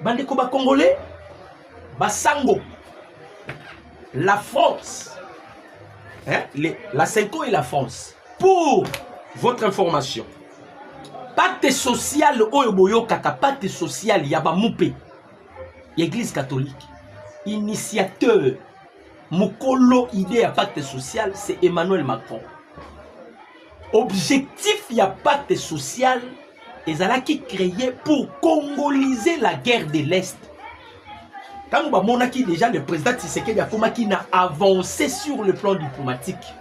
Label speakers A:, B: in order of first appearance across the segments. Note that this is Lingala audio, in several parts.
A: bandeko ba congolais basango la france hein, les, la senco et la france pour votre information pacte social oyo boyokaka pacte social ya bamupe ya église catholique initiateur mokolo idée ya pacte social c'est emmanuel macron Objectif ya pacte social ezalaki créé pour congoliser la guerre de l'Est. Tango bamonaki déjà le président Tshisekedi akomaki na avancé sur le plan diplomatique.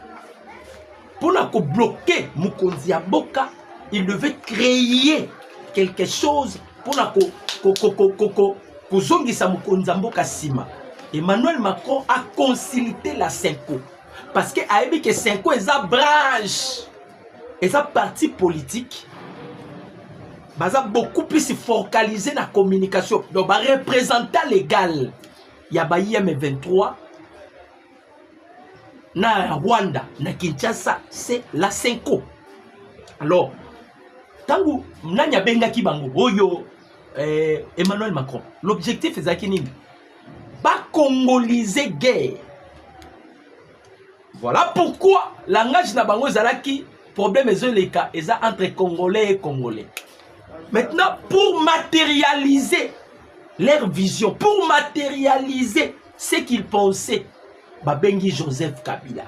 A: Pour na ko bloquer mokonzi ya mboka, il devait créer quelque chose pour na ko ko ko ko ko, ko kozongisa mokonzi ya mboka sima. Emmanuel Macron a consulté la CENCO. parce que ayebi ke senko eza branche eza parti politique baza beaucoup plus focalisé na communication donc barepresentant légal ya ba im23 na rwanda na kinshasa c'est la senko alors ntango nani abengaki bango oyo eh, emmanuel macron l'objectif ezalaki nini ba congolise guerre voilà pourquoi langage na bango ezalaki problème ezoleka eza entre congolais et congolais maintenant pour matérialiser leur vision pour matérialiser ce qu'ils pensaient babengi joseph kabila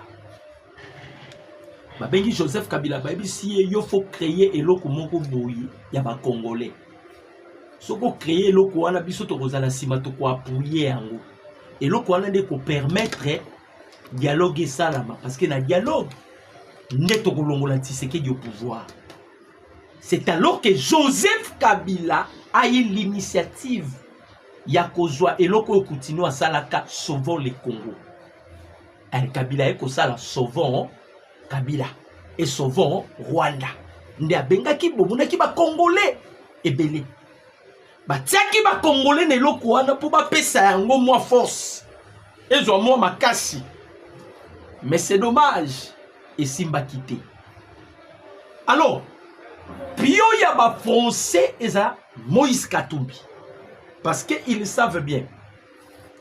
A: babengi joseph kabila bayebisi ye yo faut créer eloko moko boye ya bacongolais soki ocreye eloko wana biso tokozala nsima tokoapuye yango eloko wana nde kopermettre dialogue esalama parce que na dialogue nde tokolongola tisekedi au pouvoir c'est alors que joseph kabila aye l'initiative ya kozwa eloko oyo kutino asalaka sauvons le congo eh, kabila ye kosala sauvons Kabila et sauvons Rwanda nde abengaki bomonaki bakongole ebele batiaki bakongole na eloko wana mpo bapesa yango mwa force ezwa mwa makasi mais c'est dommage esimbaki te alors pio ya bafrançais eza moïse katumbi parce que ils savent bien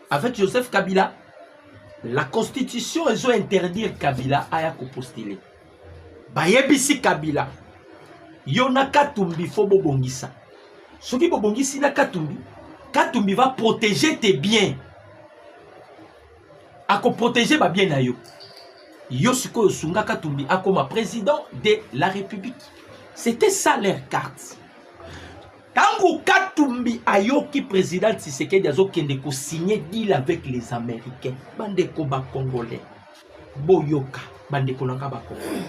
A: Avec Joseph Kabila, la constitution ezo interdire Kabila aya ko postuler. Bayebisi Kabila yo na Katumbi fo bobongisa. Soki bobongisi na Katumbi, Katumbi va protéger tes biens. Ako protéger ba biens na yo. Yo sikoyo sunga Katumbi akoma président de la République. C'était ça leur carte. Tango Katumbi ayoki président Tshisekedi azokende ko signer deal avec les Américains. Bandeko ba Congolais. Boyoka bandeko nanga ba Congolais.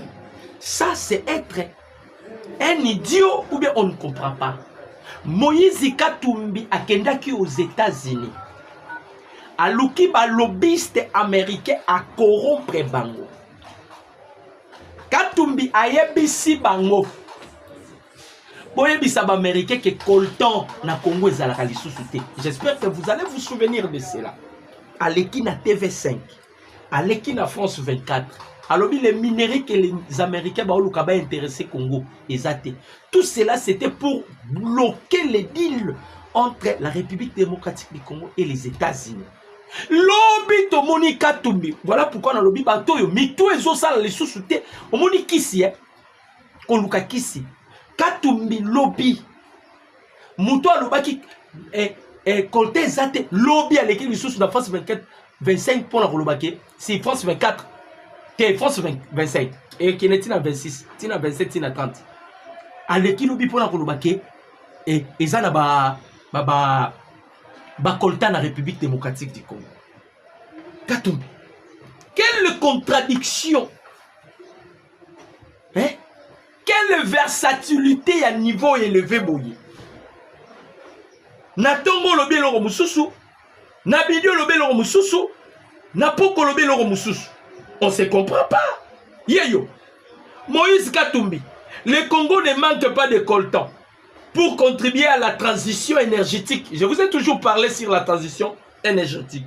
A: Ça c'est être un idiot ou bien on ne comprend pas. Moïse Katumbi akendaki aux États-Unis. Aluki ba lobbyiste américain à corrompre bango. Katumbi ayebisi bango boyebisa bamericain ke coltan na congo ezalaka lisusu te j'espère que vous allez vous souvenir de cela aleki na tv5 aleki na france 24 alobi les minerais que les américains baoluka bainteresse congo eza te tout cela c'était pour bloquer les deals entre la république démocratique du congo et les états-unis lobi tomoni katumbi voilà pourquoi nalobi bato oyo mitu ezosala lisusu te omoni kisi eh? koluka kisi katumbi lobi moto alobaki eh, eh, kolte eza te lobi aleki lisusu na france 24 25 mpo na koloba ke si france 24 te france 25 ekende ntina 26 ntina 27 ntina 30 aleki lobi mpo na koloba ke eh, eza na ba, ba, ba, bakolta na république démocratique du congo katumbi quelle contradiction eh? quelle versatilité ya niveau eleve boye na ntongo olobi eloko mosusu na bidi olobi eloko mosusu na poko olobi eloko mosusu on se comprend pas yeyo moïse katumbi le congo ne manque pas de coltan pour contribuer à la transition énergétique je vous ai toujours parlé sur la transition énergétique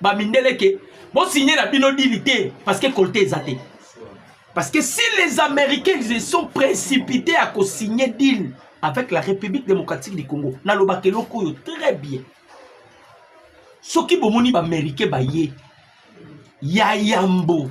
A: ba mindele ke bo signer na bino dili te parce que kolte eza te parce que si les américains se sont précipités à co-signer deal avec la république démocratique du congo nalobaka eloko oyo très bien soki bomoni baaméricain baye ya yambo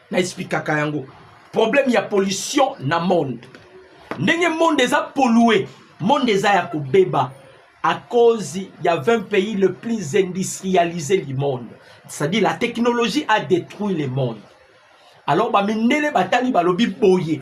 A: na expliquaka yango problème ya pollution na monde ndenge monde eza pollue monde eza ya kobeba à cause ya 20 pays le plus industrialisé du monde c'est-à-dire la technologie a détruit le monde alors bamindele batali balobi boye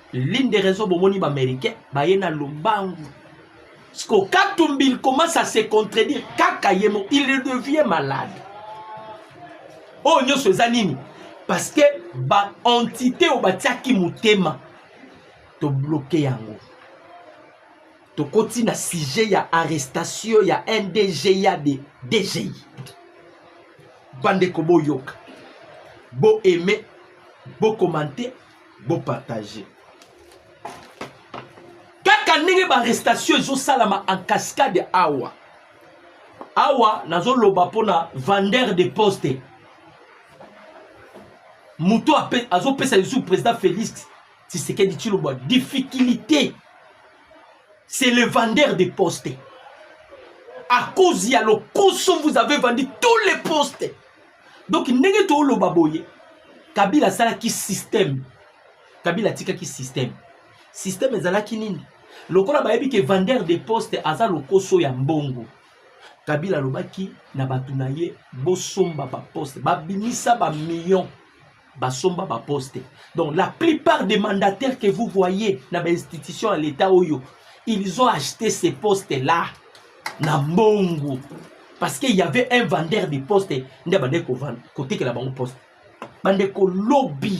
A: L'une des raisons bomoni ba américains baye na lombangu. Siko Katumbi il commence à se contredire kaka yemo il devient malade. Oh nyoso eza nini? Parce que ba entité oyo batiaki motema to bloquer yango. Tokoti na sujet ya arrestation ya NDGA de DGI. Bande ko boyoka. Bo aimer, bo commenter Bo partager. Kaka ndenge ba arrestation ezo salama en cascade awa. Awa nazo loba pona vendeur de poste. Muto azo pesa yesu président Félix Tshisekedi Tshilombo difficulté. C'est le vendeur de poste. À cause ya lokoso vous avez vendu tous les postes. donc ndenge toloba boye kabila asalaki système kabila atikaki système système ezalaki nini lokola bayebi ke vendeur de poste aza lokoso ya mbongo kabila alobaki na bato na ye bosomba baposte babimisa bamillion basomba ba poste donc la plupart des mandataires que vous voyez na ba institution ya l'état oyo ils ont acheté ces postes là na mbongo parce qu'il y avait un vendeur de poste nde abandaki kotekela bango poste bandeko lobi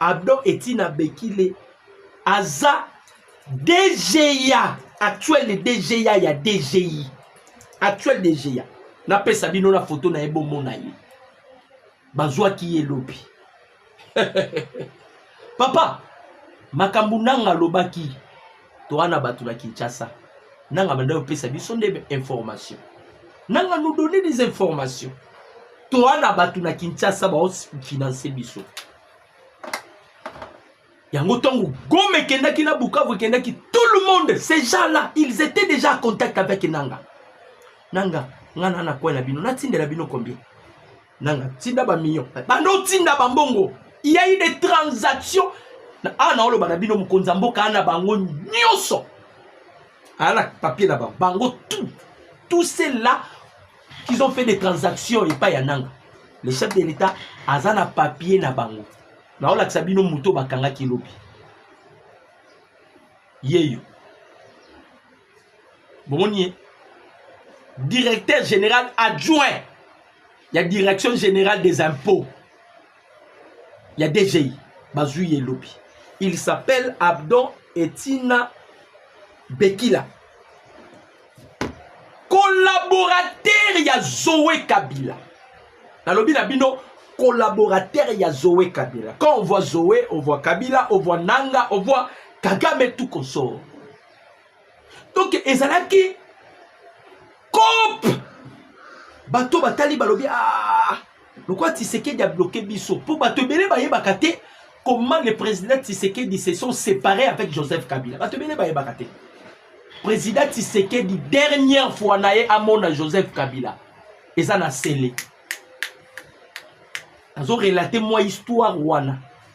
A: Abdon Etine Abekile aza DGA actuel de DGA ya DGI actuel DGA napesa bino na foto na ye bomona ye bazwaki ye lobi papa makambo nanga alobaki toa na bato na kinshasa nanga banda kopesa biso nde information nanga nous donner des informations toa na bato na kinshasa baofinanse biso yango ntango gome ekendaki na bukavu ekendaki tout le monde ces gens là ils étaient déjà en contact avec nanga nanga nga na nakwela bino natindela bino combien nanga tinda ba million banda otinda bambongo il y a eu des transactions awa naoloba na bino mokonzi ya mboka ana bango nyonso aya na papier na bango bango tout tout c'est là qu'ils ont fait des transactions epai ya nanga le chef de l'état aza na papier na bango naolakisa bino moto bakangaki lobi yeyo bomoni ye directeur général adjoint ya direction générale des impôts ya dgi bazwi ye lobi il s'appelle abdon etina bekila collaborateur ya zoe kabila nalobi na bino collaborateur ya zoe kabila quand on voit zoe on voit kabila on voit nanga on voit kagame tout consort donc ezalaki cope bato batali balobi ah, lokola tisekedi abloke biso mpo bato ebele bayebaka te comment le président tisekedi se sont séparés avec joseph kabila bato ebele bayebaka te président tisekedi dernière fois na ye amona joseph kabila eza na sele azo relate mwa histoire wana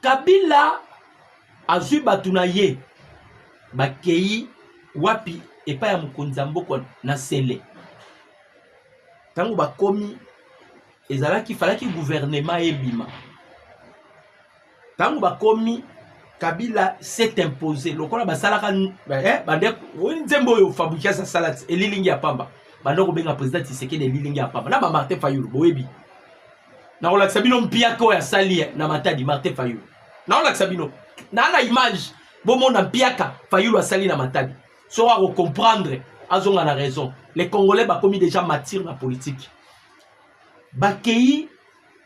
A: kabila azwi bato na ye bakei wapi epai ya mokonzi ya mboka na sele ntango bakomi ezalaki falaki guvernema ebima ntango bakomi kabila s'est impose lokola basalaka eh, bande oyi nzembo oyo fabrikas asala elilingi ya pamba banda kobenga président tisekedi elilingi ya pamba na bamartin fayulu boyebi nakolakisa bino mpiaka oyo asali eh, na matadi martin fayulu nakolakisa bino naa na image bomona mpiaka fayulu asali na matadi soko akokomprendre azonga na raison les congolais bakomi déjà matire na politique bakei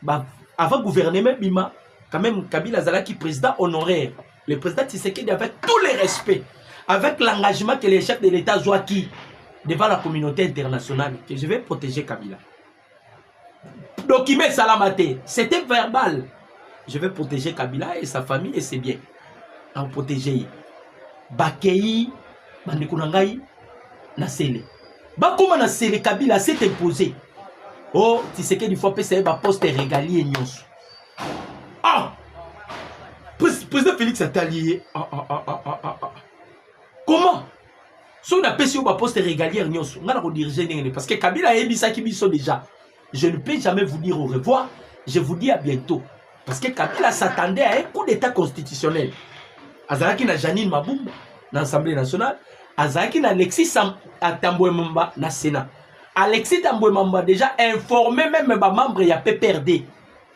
A: ba, avant gouvernement bima quand même kabila azalaki président honoraire le président tisekedi avec tous les respects avec l'engagement que les chefs de l'état azwaki devant la communauté internationale que je vais protéger kabila document esalama te c'était verbal je vais protéger kabila et sa famille et ses biens akoprotege ye bakei bandeko na ngai na sele bakóma na sele kabila s'est imposé o oh, tisekedi fo apesa ye baposte regalier nyonso ah président félix atali ye ah, ah, ah, ah, ah, ah. comment soki napesi yo baposte régalière nyonso ngai nakodirige ndenge nini parce que kabila ayebisaki biso déjà je ne peux jamais vous dire au revoir je vous dis à bientôt parce que kabila s'attendait à un coup d'état constitutionnel azalaki na janine mabumba na assemblée nationale azalaki na alexis atambwemamba na sénat alexis tambwemamba déjà informé même bamembre ya pprd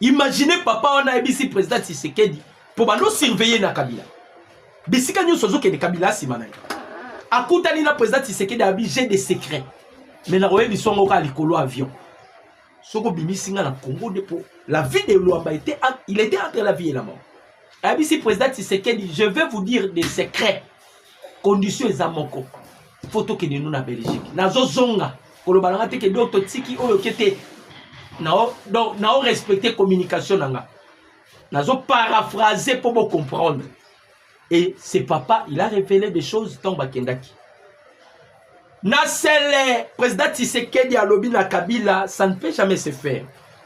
A: Imaginez papa wana ayebisi président Tshisekedi mpo bando surveiller na Kabila. Bisika nyonso azokende Kabila asima na ye. Akutani na président Tshisekedi abi j'ai des secrets. Mais na oyebi songo ka likolo avion. Soko bimisi nga na Congo de po la vie de Luamba était il était entre la vie et la mort. Abisi président Tshisekedi je vais vous dire des secrets. Condition eza moko. fo tokende nu na belgique nazozonga koloba na nga te ke donc totiki oyo ke te nao respecte communication na nga nazo paraphrase mpo bocomprendre et ce papa il a révélé des choses ntango bakendaki na sele président tisekedi alobi na kabila ça ne peut jamais se faire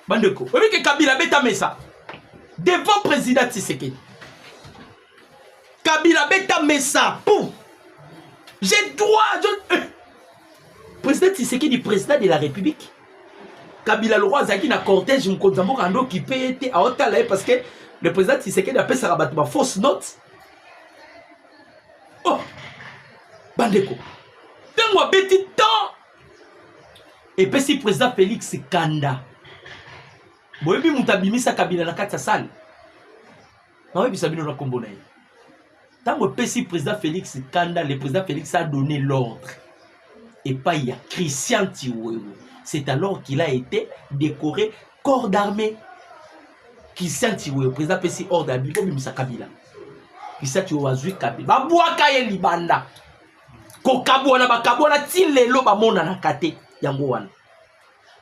A: bandeko oyebi ke kabila abeta mesa devant président tisekedi kabila beta mesa pou j'ai droit je... Eh. président tisekedi président de la république kabila lokola azalaki na cortège mokonzi ya mboka ando okipe ye te aotala ye parce que le président tisekedi apesaka bato ba fausse note oh bandeko ntango abeti temps epesi président félix kanda boyebi moto abimisa kabila na kati ya sale nayebisa bino na nkombo na ye ntango epesi président félix kanda le président félix a donné l'ordre epai ya christian tiwewe c'est alors qu'il a été décoré corps d'armée christian tiwewe président apesi ordre ya biko bimisa kabila christian tiwewe azwi kabila babwaka ye libanda kokabwana bakabwana ti lelo bamonanaka te yango wana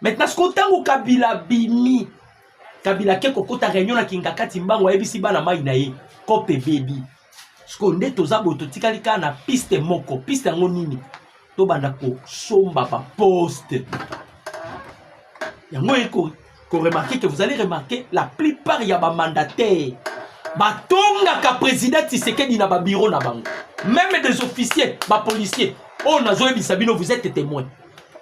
A: maintenant sikoyo ntango kabila abimi kabila ake kokota réunion na kingakati mbango ayebisi bana mai na ye kope ebebi sikoyo nde toza boye totikali kaka na piste moko piste yango nini tobanda kosomba baposte yango eko koremarke ke vous allez remarke la plupart ya bamandataire batongaka président tisekedi na babiro na bango meme des officiers bapolicier oyo nazoyebisa bino vous êtes témoin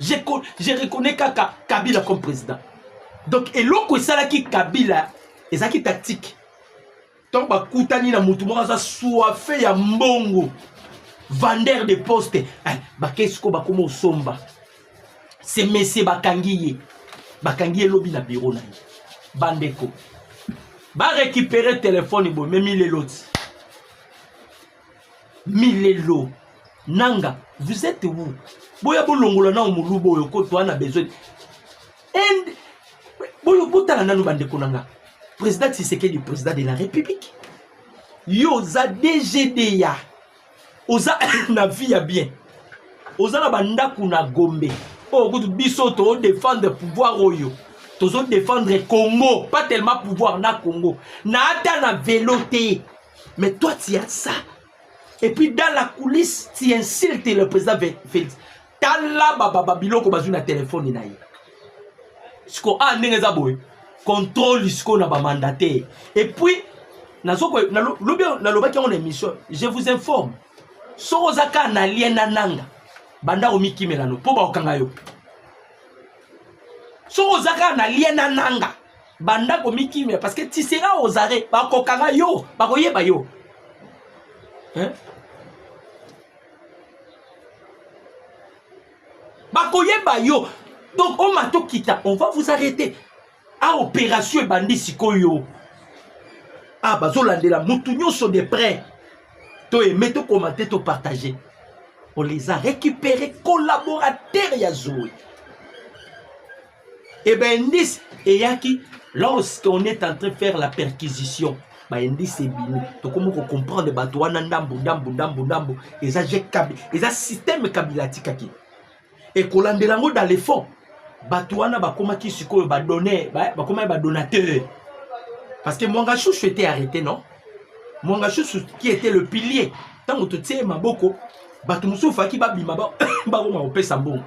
A: je, je reconnais kaka kabila comme président donc eloko esalaki kabila ezalaki tactique ntango bakutani na motu moko aza soife ya mbongo vendeur de poste eh, bakesi ko bakoma osomba se mesie bakangi ye bakangi ye lobi na biro na ye bandeko barekipere telefone boye memi leloti milelo nanga vous êtes où boya bolongola nao moluba oyo kotoa na besoin and boyo botala nanu bandeko na nga président tisekedi président de la république yo oza dgda oza na vie ya bien oza na bandako na gombe oyo oh, kutu biso todefendre pouvoir oyo tozodefendre congo pas tellement pouvoir na congo na ata na velo te Mais toi, tu as ça. Et puis dans la coulisse, tu insultes le président Félix. Tala baba babilo ko bazui na téléphone na ye. Siko a ah, ndenge eza boye. Contrôle siko na ba mandataire. Et puis nazo ko na lobi na lobaki on émission. Je vous informe. Soko zaka na lien na nanga. Banda omikimela no po ba okanga yo. Soko zaka na lien na nanga. banda komikimia parce que tu seras aux arrêts bakokanga yo bakoyeba yo hein? bakoyeba yo donc oma tokita on va vous arrêter a opération ebandi sikoyo a ah, bazolandela motu nyonso de près to aime to commente to partage on les a récupéré collaborateur ya zoe Et eh ben indice eyaki lorsqu'on est en train de faire la perquisition ba indice ebimi tokomi ko comprendre bato wana ndambo ndambo ndambo ndambo eza je kabi eza système kabila atikaki ekolandela yango dans le fond bato wana bakomaki sikoyo badonne bakomaki badonateur parce que mwanga chouchou était arrêté non mwanga chouchou qui était le pilier ntango totie maboko bato mosusu ofaki babima bakoma kopesa mbongo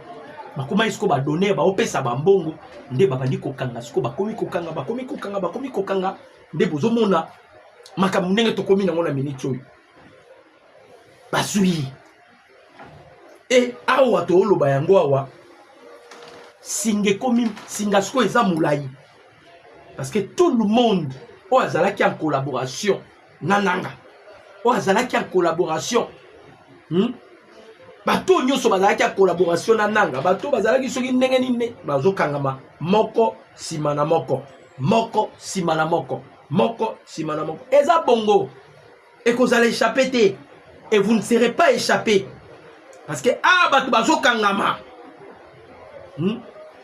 A: bakomaki sikoyo badonere baopesa bambongo nde babandi kokanga sikoyo bakomi kokanga bakomi kokanga bakomi kokanga nde bozomona makambo ndenge tokomi nango na miniti oyo bazwi e awa tooloba yango awa singa ekomi singa sikoyo eza molai parce que tout le monde oyo azalaki en collaboration na nanga oyo azalaki en collaboration hmm? bato oyo nyonso bazalaki ya collaboration na nanga bato oyo bazalaki soki ndenge nini bazokangama moko nsima na moko moko nsima na moko moko nsima na moko eza bongo ekozala échappe te et vous ne serez pas échappe parce que awa ah, bato bazokangama hmm?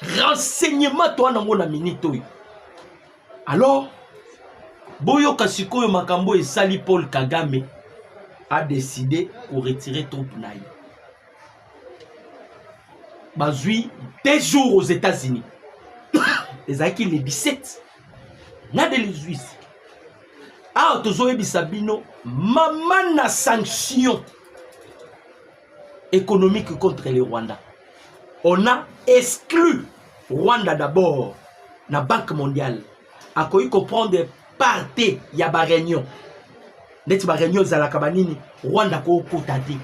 A: renseignement toa nango na minute oyo alors boyoka sikoyo makambo esali paul kagame a décidé koretire troupe na ye bazwi deux jours aux états-unis ezalaki le 17 na de lesuise awa tozoyebisa bino mama na sanction économique contre le Rwanda. On a exclu Rwanda d'abord na Banque mondiale. Akoki comprendre parte ya ba réunion. Neti ba réunion ezalaka ba nini Rwanda kokota te.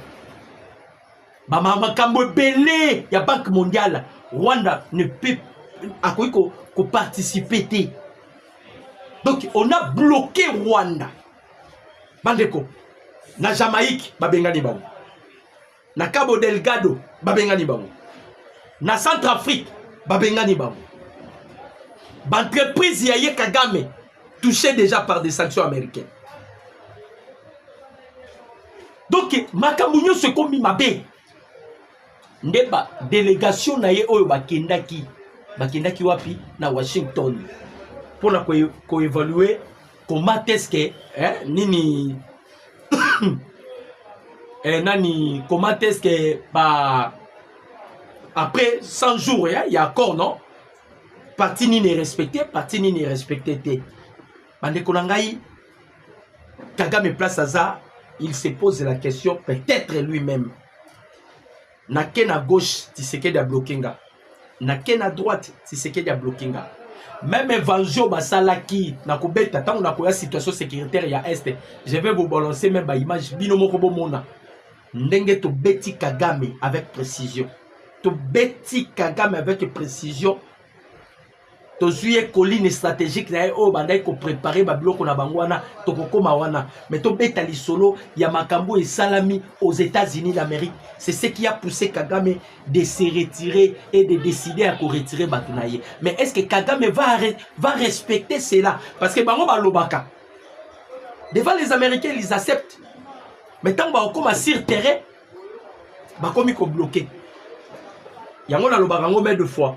A: Ba makambo ebele ya Banque mondiale Rwanda ne peut akoki ko, ko participer te. Donc on a bloqué Rwanda. bandeko na jamaïque babengani bango na cabo delgado babengani bango na centre afrique babengani bango baentreprise ya ye kagame touché déjà par des sanctions américaines donc makambo nyonso ekomi mabe nde badelegation na ye oyo bakendaki bakendaki wapi na washington mpo na koevalue ko comment est-ce que eh, nini eh, nani comment est-ce que ba après 100 jours ya, ya accord non parti nini respecte parti nini respecte te bandeko na ngai kagame place aza il se pose la question peut-être lui-même Na ke na gauche, Tshisekedi a bloqué nga. Na ke na droite, Tshisekedi a bloqué nga. Même évangile basalaki na kobeta ntango na koya situation sécuritaire ya Est, je vais vous balancer même ba image bino moko bomona ndenge tobeti Kagame avec précision. Tobeti Kagame avec précision tozwi ye colline stratégique na ye oyo bandaki koprepare babiloko na bango wana tokokoma wana mais tobeta lisolo ya makambo oyo esalami aux états-unis d'amérique c'est ce qui a poussé kagame de se retirer et de décider ya koretire bato na ye mais est ce que kagame va, va respecter cela parce que bango balobaka devant les américains ils acceptent mais ntango bakokoma sur terrain bakomi kobloke yango nalobaka yango mai de fois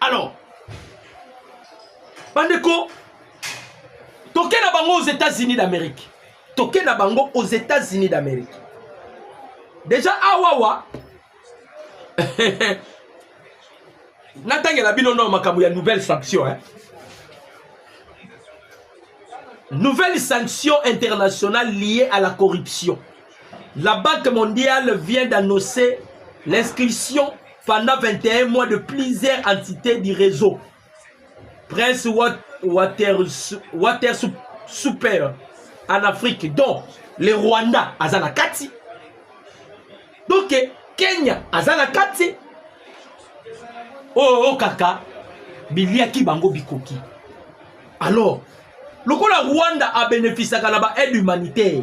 A: alors bandeko toke na bango aux états-unis d'amérique toke na bango aux états-unis d'amérique deja awawa natangela bino no makambo ya nouvelle sanction eh? nouvelle sanction internationale liée à la corruption La Banque mondiale vient d'annoncer l'inscription pendant 21 mois de plusieurs entités du réseau. Prince Water, Water Super en Afrique, dont le Rwanda, Azana Kati. Donc, Kenya, Azana Kati. Oh, oh, kaka, biliaki bango bikoki. Alors, lokola Rwanda a bénéficié de l'aide humanitaire,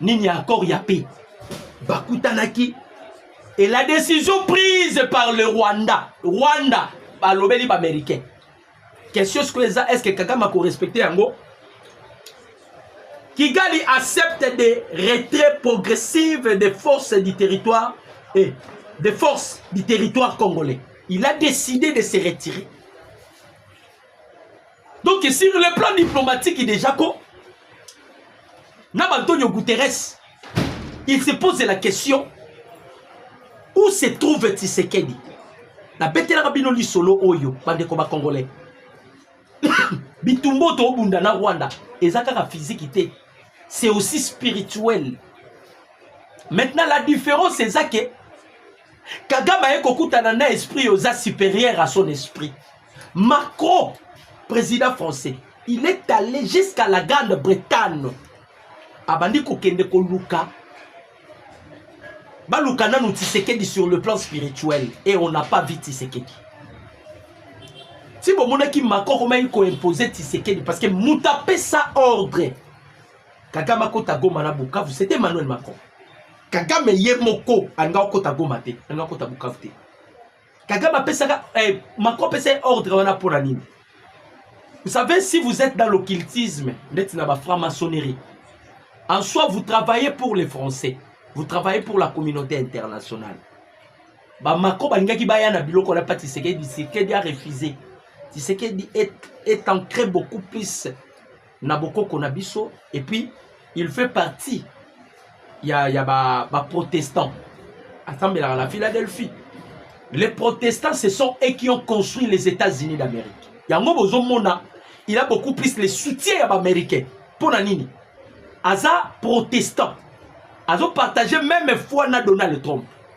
A: nini ya accord ya paix bakutanaki et la décision prise par le rwanda rwanda balobeli baaméricain question sikoyo eza est ce que kagame akorespecte yango kigali accepte des retraits progressives des forces du territoire et eh, des forces du territoire congolais il a décidé de se retirer donc sur le plan diplomatique déjà ko na baantonio guterres il se pose la question où se trouve tisekedi nabetelaka bino lisolo oyo bandeko bacongolais bitumba oyo toobunda na rwanda eza kaka fiziki te c'est aussi spirituel maintenant la différence eza ke kagame aye kokutana na esprit oza supérieur à son esprit Macron, président français, il est allé jusqu'à la Grande-Bretagne. Abandi kokende koluka baluka nanu Tshisekedi sur le plan spirituel et on n'a pas vu Tshisekedi. Si vous voulez que Macron komaki ko imposer Tshisekedi parce que mutu apesa ordre Kagame akota Goma na Bukavu c'était Emmanuel Macron. Kagame ye moko alingaki okota Goma te, alingaki okota Bukavu te. kagame apesaka eh, macron apesa ye ordre wana mpo na nini vous savez si vous êtes dans l'occultisme ndeti na bafranc maçonnerie en soi vous travaillez pour les français vous travaillez pour la communauté internationale bamako balingaki baya na biloko na mpa tisekedi tisekedi a refuse tisekedi est, est ancré beaucoup plus na bokoko na biso et puis il fait partie ya, ya ba, ba protestants asambelaka na philadelphie les protestants ce sont eux qui ont construit les états-unis d'amérique yango bozomona il a beaucoup plus le soutien ya baaméricain mpo na nini aza protestant azopartage meme foi na donald trump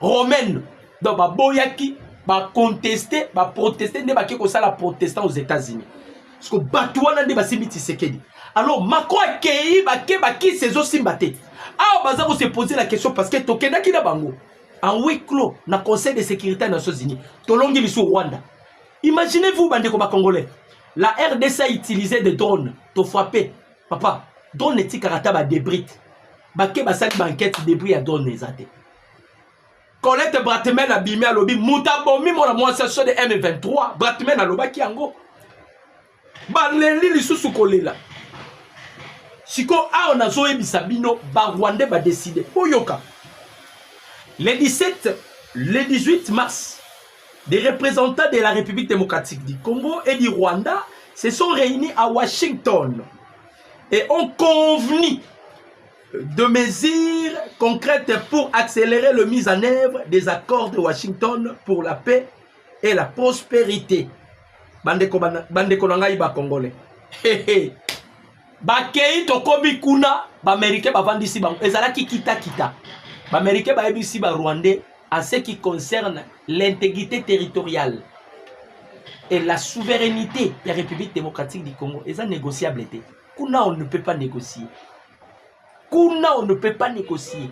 A: romaine donc baboyaki baconteste baproteste nde bake kosala protestant aux états-unis parceke bato wana nde basimbi tisekedi alors macron akei bake bakisi ezosimba te awa baza kose pose la question parce que tokendaki na bango en huis clos na conseil de sécurité ya nations unis tolongi lisu rwanda imaginez vous bandeko bacongolais la rdc a utilisé des drones tofrappe papa drone etikaka ata badebrite bake basali bankete debris ya drone eza te Colette Bratman abimi alobi moto abomi mwana mwasi ya sode M23 Bratman alobaki yango baleli lisusu kolela sikoyo awa nazoyebisa bino barwande badeside boyoka le 17 le 18 mars des représentants de la république démocratique du congo et du rwanda se sont réunis à washington et ont convenu de mesures concrètes pour accélérer le mise en œuvre des accords de Washington pour la paix et la prospérité. Bandeko, bandeko na ngai bakongole bakei tokomi kuna baamerike bavandisi bango ezalaki kitakita baamerike bayebisi barwandais en ce qui concerne l'intégrité territoriale et la souveraineté ya république démocratique du congo eza négociable te kuna on ne peut pas négocier kuna on ne peut pas négocier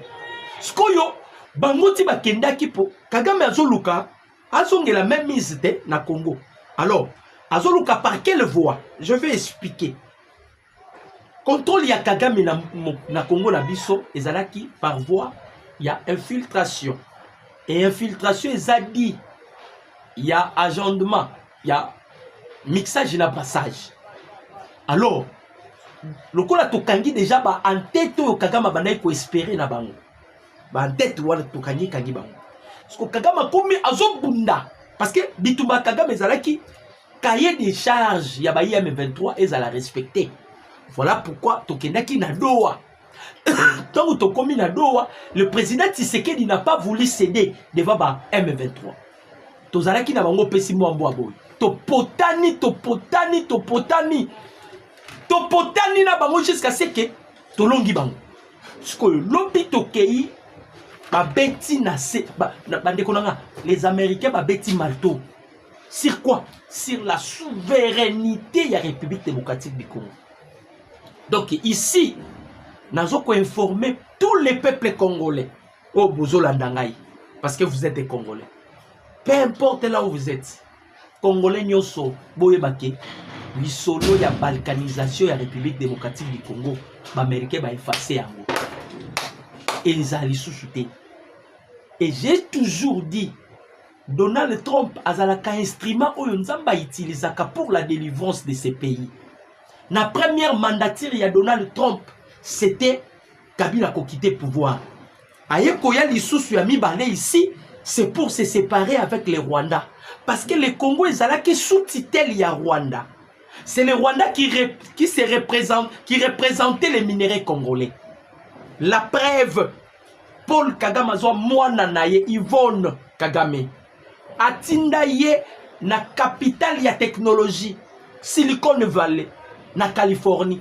A: sikoyo bango ti bakendaki mpo kagame azoluka azongela même mise te na congo alors azoluka par quelle voie je vais expliquer contrôle ya kagame na, na congo na biso ezalaki par voie ya infiltration e infiltration eza dit ya agendement ya mixage na brassage alors lokola tokangi deja ba entete oyo kagame abandaki koespere na bango ba entete wana tokangi kangi bango soko kagame akomi azobunda parce que bitumba kagame ezalaki cahier de charge ya ba im 23 ezala respecte voilà pourquoi tokendaki na doa ntango tokomi na doa le président tshisekedi n'a pas voulu céder devant ba m 23 tozalaki na bango opesi mwa mbwa boye topotani topotani topotani topotani na bango jusqu'à ce que tolongi bango sikoyo lobi tokei babeti na se bandeko na nga les américains babeti marteau sur quoi sur la souveraineté ya république démocratique du congo donc ici nazo koinforme tous les peuples congolais oyo bozolanda ngai parce que vous êtes des congolais peu importe là où vous êtes congolais nyonso boyeba ke lisolo ya balkanisation ya république démocratique du congo baaméricain baefase yango eza lisusu te et j'ai toujours dit donald trump azalaka instrument oyo nzambe autilisaka pour la délivrance de ce pays na première mandature ya donald trump c'était Kabila ko quitter pouvoir. Aye koya lisusu ya mibale ici, c'est pour se séparer avec le Rwanda. Parce que le Congo ezalaki sous tutelle ya Rwanda. C'est le Rwanda qui, rep, qui, se représente, qui représentait les minerais congolais. La preuve, Paul Kagame azwa mwana na ye Yvonne Kagame atinda ye na capitale ya technologie Silicon Valley na Californie.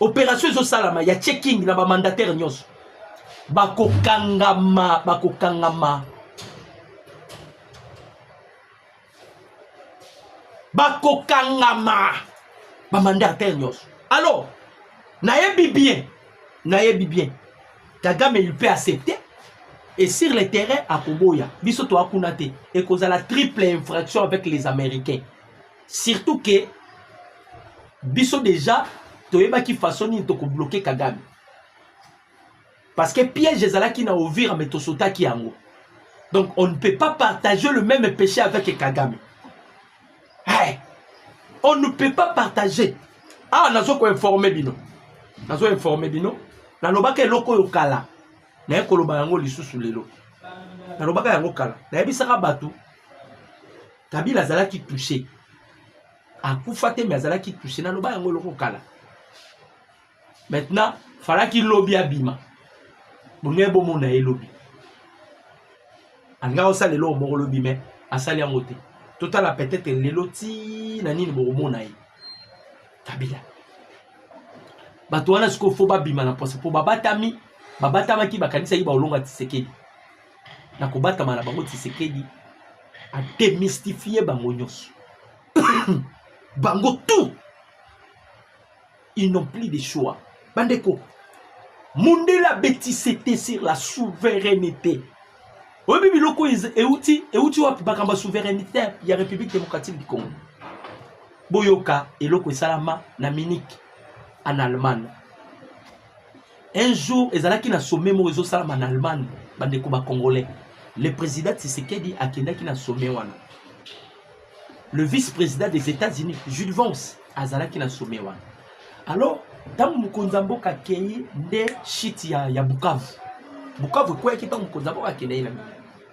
A: operation ezosalama ya checking na bamandataire nyonso bakokangama bakokangama bakokangama bamandataire nyonso alors nayebi bien nayebi bien kagame il peut accepter et sur le terrain akoboya biso toa kuna te ekozala triple infraction avec les américains surtout que biso déjà toyebaki façon nini tokobloke kagame parce que piège ezalaki na ovira me tosotaki yango donc on ne peut pas partager le même péché avec kagame hey, on ne peut pas partager awa ah, nazo koinforme bino nazo informe bino nalobaka eloko oyo kala naye koloba yango lisusu lelo nalobaka yango kala nayebisaka bato Kabila azalaki touche, akufa te, mais azalaki touche. Naloba yango eloko kala. Maintenant, falaki lobi abima. Bonge bomona ye lobi. Alingaki osala eloko moko lobi, mais asali yango te. Totala peut-être lelo ti na nini bokomona ye. Kabila. Bato wana sikoyo fo babima na posa mpo babatami babatamaki bakanisaki baolonga Tshisekedi. na kobatama na bango Tshisekedi a démystifier bango nyonso bango tout ils n'ont plus de choix bandeko mondela betise te sur la souveraineté oyebi biloko euti euti wapi makambo ya souveraineté ya république démocratique du congo boyoka eloko esalama na munich en allemagne Un jour, ezalaki na sommet moko ezosalama na Allemagne, bandeko ba Congolais. Le président Tshisekedi akendaki na sommet wana. Le vice-président des États-Unis, Jude Vance, azalaki na sommet wana. Alors, ntango mokonzi ya mboka akei nde shiti ya, ya Bukavu. Bukavu ekweyaki ntango mokonzi ya mboka akendaki na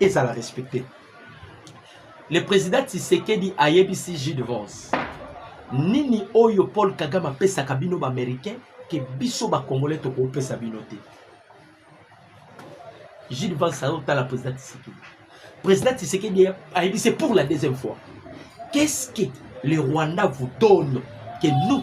A: ezala respecte le président tisekedi ayebisi jus de vence nini oyo paul kagame apesaka bino baaméricain ke biso bakongolais tokopesa bino te jus de vence azotala président tisekedi président tisekedi ayebisi pour la deuxième fois qu'est ce que le rwanda vous donne que nous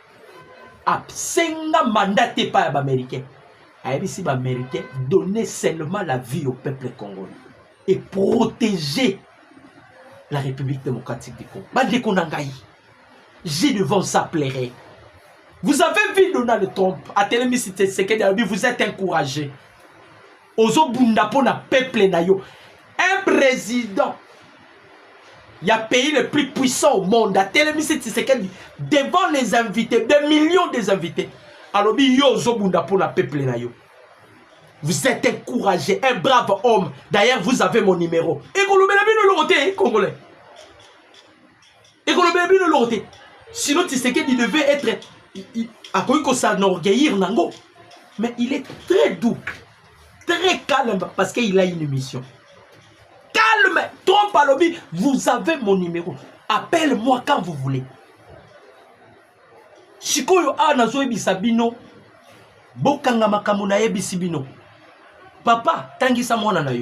A: asenga mandat te epai ya baaméricain ayebisi baaméricain donner seulement la vie au peuple congolais et protéger la république démocratique du congo bandeko na ngai j'ai devant ça plairait vous avez vu donald trump atelemisi tshisekedi alobi vous êtes encouragé ozo bunda pona peuple na yo un président ya pays le plus puissant au monde atelemisi Tshisekedi devant les invités des millions des invités alobi yo ozo bunda pona peuple na yo vous êtes un courageux un brave homme d'ailleurs vous avez mon numéro ekolobela bino eloko te congolais ekolobela bino eloko te sinon tisekedi devait être akoki kosanorgueillir nango mais il est très doux très calme parce qu'il a une émission calme trompe alobi vous avez mon numéro appelle moi quand vous voulez sikoyo awa nazoyebisa bino bokanga makambo nayebisi bino papa tangisa mwana na yo